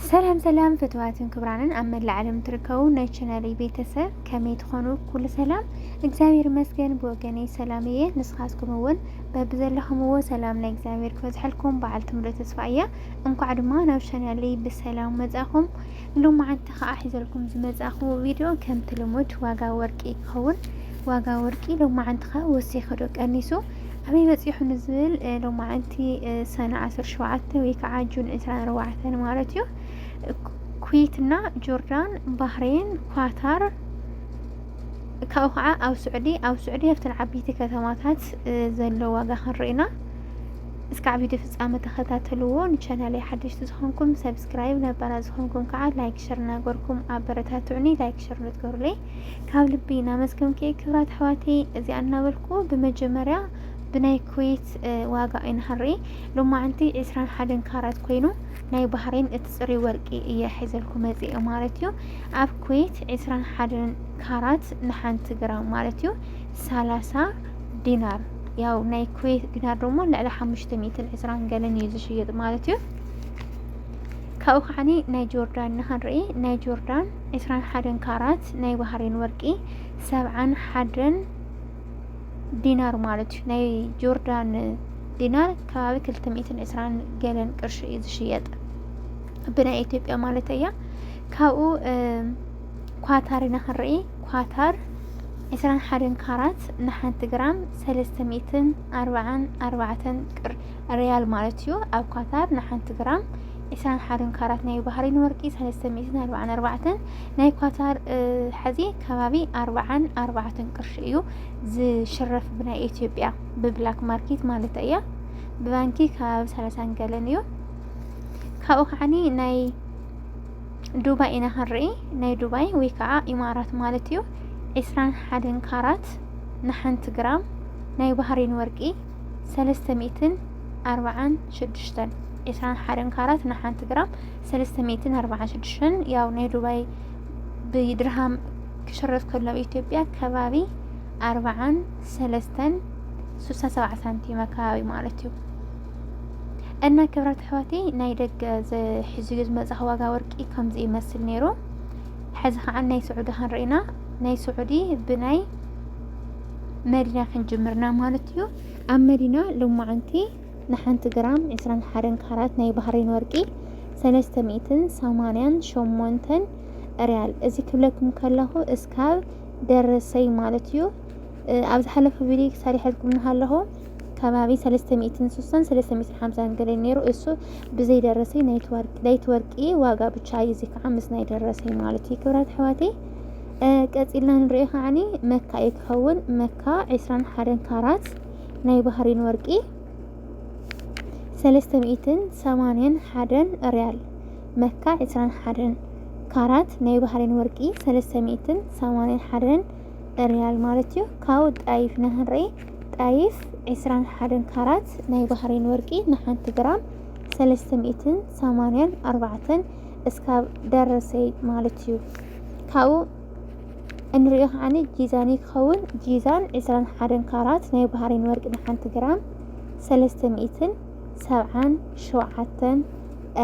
ሰላም ሰላም ፍትዋትን ክብራንን ኣብ መላእ ዓለም ትርከቡ ናይ ቻናል ቤተሰብ ከመይ ትኾኑ? ኩሉ ሰላም እግዚኣብሔር ይመስገን። ብወገነይ ሰላም እየ። ንስኻትኩም እውን በብዘለኹምዎ ሰላም ናይ እግዚኣብሔር ክበዝሐልኩም በዓል ትምሉ ተስፋ እያ። እንኳዕ ድማ ናብ ቻናለይ ብሰላም መጻኹም። ሎማዓንቲ ከዓ ሒዘልኩም ዝመጻኹ ቪድዮ ከምቲ ልሙድ ዋጋ ወርቂ ይኸውን። ዋጋ ወርቂ ሎማዓንቲ ከዓ ወሲኽዶ ቀኒሱ ኣበይ በጺሑ ንዝብል ሎማዕንቲ ሰነ ዓሰርተ ሸውዓተ ወይ ከዓ ጁን ዕስራን ኣርባዕተን ማለት እዩ ኩዌት እና ጆርዳን ባህሬን ኳታር ካብኡ ከዓ ኣብ ስዑዲ ኣብ ስዑዲ ኣብተን ዓበይቲ ከተማታት ዘሎ ዋጋ ክንርኢና እስካዕ ቪድዮ ፍፃመ ተኸታተልዎ ንቻናለይ ሓደሽቲ ዝኾንኩም ሰብስክራይብ ነባራ ዝኾንኩም ከዓ ላይክ ሸር እናገርኩም ኣበረታትዑኒ ላይክ ሸር ንትገሩለይ ካብ ልቢ እናመስገንኪ ክብራት ኣሕዋተይ እዚኣ እናበልኩ ብመጀመርያ ብናይ ኩዌት ዋጋ ኣይንሃርኢ ሎማዓንቲ ዕስራን ሓደን ካራት ኮይኑ ናይ ባህሬን እቲ ፅሪ ወርቂ እየ ሒዘልኩ መፅአ ማለት እዩ ኣብ ኩዌት ዕስራን ሓደን ካራት ንሓንቲ ግራም ማለት እዩ ሰላሳ ዲናር ያው ናይ ኩዌት ዲናር ደሞ ልዕሊ ሓሙሽተ ሚእትን ዕስራን ገለን እዩ ዝሽየጥ ማለት እዩ ካብኡ ከዓኒ ናይ ጆርዳን ንኸንርኢ ናይ ጆርዳን ዕስራን ሓደን ካራት ናይ ባህሬን ወርቂ ሰብዓን ሓደን ዲናር ማለት እዩ ናይ ጆርዳን ዲናር ከባቢ ክልተ ሚእትን ዕስራን ገለን ቅርሺ እዩ ዝሽየጥ ብናይ ኢትዮጵያ ማለት እያ ካብኡ ኳታር ኢና ክንርኢ ኳታር ዕስራን ሓደን ካራት ንሓንቲ ግራም ሰለስተ ሚእትን ኣርባዓን ኣርባዕተን ቅር ርያል ማለት እዩ ኣብ ኳታር ንሓንቲ ግራም ኢሳን ሓደን ካራት ናይ ባህሪን ወርቂ ሰለስተ ሚእትን ኣርባዓን ኣርባዕተን ናይ ኳታር ሐዚ ከባቢ ኣርባዓን ኣርባዕተን ቅርሺ እዩ ዝሽረፍ ብናይ ኢትዮጵያ ብብላክ ማርኬት ማለት እያ ብባንኪ ከባቢ ሰላሳን ገለን እዩ ካብኡ ከዓኒ ናይ ዱባይ ኢና ክንርኢ ናይ ዱባይ ወይ ከዓ ኢማራት ማለት እዩ ዕስራን ሓደን ካራት ንሓንቲ ግራም ናይ ባህሪን ወርቂ ሰለስተ ሚእትን ኣርባዓን ሽዱሽተን ዕስራን ሓደን ካራት ንሓንቲ ግራም ሰለስተ ሚእትን ኣርባዓን ሽዱሽተን ያው ናይ ዱባይ ብድርሃም ክሽረፍ ከሎ ኣብ ኢትዮጵያ ከባቢ ኣርባዓን ሰለስተን ስሳን ሰብዓ ሳንቲም ኣካባቢ ማለት እዩ እና ክብረት ኣሕዋቲ ናይ ደገ ዝሕዚ እዩ ዝመፅእ ዋጋ ወርቂ ከምዚ ይመስል ነይሩ ሕዚ ከዓ ናይ ስዑዲ ክንርኢና ናይ ስዑዲ ብናይ መዲና ክንጅምርና ማለት እዩ ኣብ መዲና ሎማዓንቲ ንሓንቲ ግራም 21 ካራት ናይ ባህሬን ወርቂ 388 ሪያል እዚ ክብለኩም ከለኹ እስካብ ደረሰይ ማለት እዩ ኣብ ዝሓለፈ ቪዲዮ ሰሪሐልኩም ንሃለኹ ከባቢ 360 350 ገለ ነይሩ እሱ ብዘይ ደረሰይ ናይቲ ወርቂ ዋጋ ብቻ እዩ እዚ ከዓ ምስ ናይ ደረሰይ ማለት እዩ ክብራት ኣሕዋተይ ቀጺልና ንርእዮ ከዓኒ መካ እዩ ክኸውን መካ ዕስራን ሓደን ካራት ናይ ባህሪን ወርቂ ሰለስተ ሚእትን ሰማንያን ሓደን ርያል መካ ዕስራን ሓደን ካራት ናይ ባህሪን ወርቂ ሰለስተ ሚእትን ሰማንያን ሓደን ርያል ማለት እዩ ካብኡ ጣይፍ ኢና ክንርኢ ጣይፍ ዕስራን ሓደን ካራት ናይ ባህሪን ወርቂ ንሓንቲ ግራም ሰለስተ ሚእትን ሰማንያን ኣርባዕተን እስካብ ደረሰይ ማለት እዩ ካብኡ እንሪኦ ከዓኒ ጂዛን እዩ ክኸውን ጂዛን ዕስራን ሓደን ካራት ናይ ባህሬን ወርቂ ንሓንቲ ግራም ሰለስተ ሚእትን ሰብዓን ሸውዓተን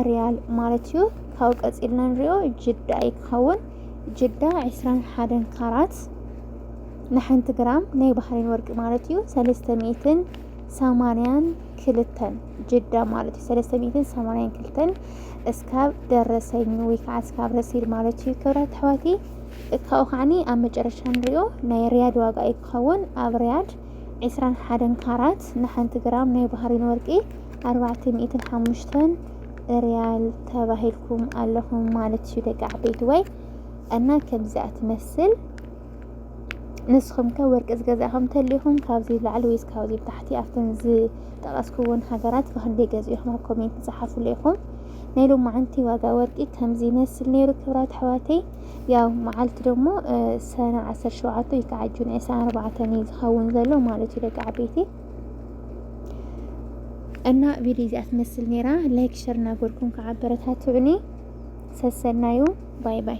ሪያል ማለት እዩ ካብኡ ቀፂልና ንሪኦ ጅዳ እዩ ክኸውን ጅዳ ዕስራን ሓደን ካራት ንሓንቲ ግራም ናይ ባህሬን ወርቂ ማለት እዩ ሰለስተ ሚእትን ሰማንያን ክልተን ጅዳ ማለት እዩ ሰለስተ ሚእትን ሰማንያን ክልተን እስካብ ደረሰኝ ወይ ከዓ እስካብ ረሲድ ማለት እዩ ክብራት ኣሕዋቲ ካብኡ ከዓኒ ኣብ መጨረሻ ንሪኦ ናይ ሪያድ ዋጋ እዩ ክኸውን ኣብ ሪያድ ዕስራን ሓደን ካራት ንሓንቲ ግራም ናይ ባህሪን ወርቂ ኣርባዕተ ሚእትን ሓሙሽተን ሪያል ተባሂልኩም ኣለኹም ማለት እዩ ደቂ ዓበይቲ ወይ እና ከምዚኣ ትመስል ንስኹም ከ ወርቂ ዝገዛእኹም ተሊኹም ካብዚ ላዕሊ ወይስ ካብዚ ታሕቲ ኣብተን ዝጠቐስኩወን ሃገራት ብክንደይ ገዚእኹም ኣብ ኮሜንት ዝሓፉሉ ኢኹም ናይ ሎማዓንቲ ዋጋ ወርቂ ከምዚ ይመስል ነይሩ ክብራት ኣሕዋተይ ያው መዓልቲ ደሞ ሰነ 17 ወይ ከዓ ጁን 24 እዩ ዝኸውን ዘሎ ማለት እዩ ደቂ ዓበይቲ እና ቪድዮ እዚኣ ትመስል ነይራ ላይክ ሸር እናገርኩም ከዓ ኣበረታትዑኒ ሰሰናዩ ባይ ባይ